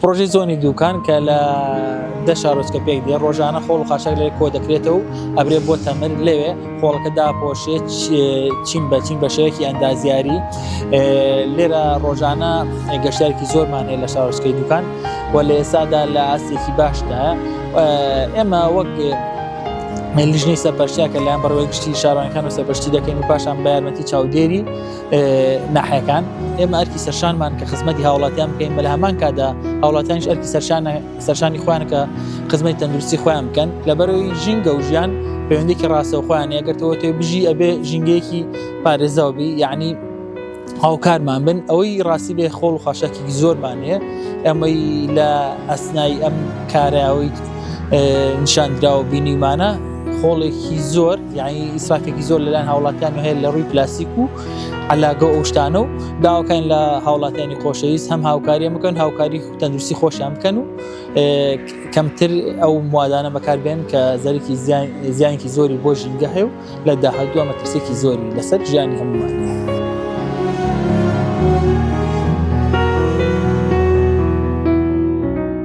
پڕۆژەی زۆنی دووکان کە لە دە شارۆچکە پێک دێ ڕۆژانە خۆڵ و خاشاک لێ کۆ دەکرێتەوە و ئەبرێ بۆ تەمر لەوێ خۆڵەکە داپۆشێ چین بە چین بە شێوەیەکی ئەندازیاری لێرە ڕۆژانە گەشتارێکی زۆرمان هەیە لە شارۆچکەی دووکان و لە ئێستادا لە ئاستێکی باشدا ئێمە وەک لیژنەی سەرپەرشتیاکە لایەن بەڕێوەی گشتی شارانەکان و سەرپەرشتی دەکەین و پاشان بە یارمەتی چاودێری ناحەکان ئێمە ئەرکی سەرشانمان کە خزمەتی هاوڵاتیان بکەین بە لە هەمان کادا هاوڵاتیانش ئەرکی سەرشانە سەرشانی خوان کە خزمەتی تەندروستی خۆیان بکەن لە بەرەوەی ژینگە و ژیان پەیوەندێکی ڕاستەوخۆیان ئەگەرتەوە تێ بژی ئەبێ ژینگەیەکی پارێزەوەبی یعنی هاوکارمان بن ئەوەی ڕاستی بێ خۆڵ و خاشاکی زۆرمان هەیە ئەمەی لە ئەسنای ئەم کارەوەی نیشاندراوە بینیمانە خۆڵێکی زۆر یانی ئیسرافێکی زۆر لەلایەن هاوڵاتیان هەیە لە ڕووی پلاسیک و علاگە ئەو شتانە و داواکەین لە هاوڵاتیانی خۆشەویست هەم هاوکاریە بکەن هاوکاری تەندروستی خۆشیان بکەن و کەمتر ئەو موادانە بەکاربێن کە زەرکی زیانکی زۆری بۆ ژینگە هەیە و لە داهدووە مەترسێکی زۆری لەسەر ژیانی هەمووان.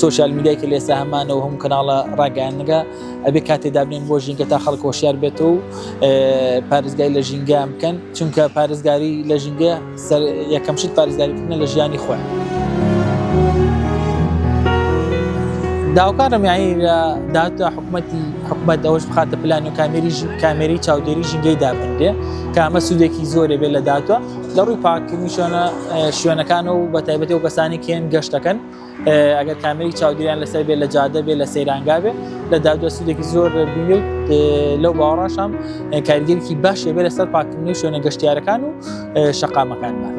سۆشیال میدیای کە لێستا هەمانە و هەموو کەناڵە ڕاگەیاندنەکە ئەبێ کاتێ دابنێن بۆ ژینگە تا خەڵک هۆشیار بێت و پارێزگای لە ژینگە بکەن چونکە پارێزگاری لە ژینگە سەر یەکەم شت پارێزگاریکردنە لە ژیانی خۆیان. داوکارم یانی لە داهاتدا حکوومەتی حکوومەت ئەوەش بخاتە پلان و کامێری کامێری چاودێری ژینگەی دابنرێ کامە سوودێکی زۆرێ بێت لە داهاتوە لە ڕووی پاککردنی شوێنە شوێنەکانە و بە تایبەتی و کەسانی کێن گەشتەکەن ئەگەر کامری چاودیان لەسەر بێ لە جادە بێ لە سەیرانگا بێ لە دادوە سودێکی زۆر بینی لەو باوەڕاشام کارگەرێکی باشێ بێ لەسەر پاککردنی شوێنە گەشتیارەکان و شەقامەکانمان.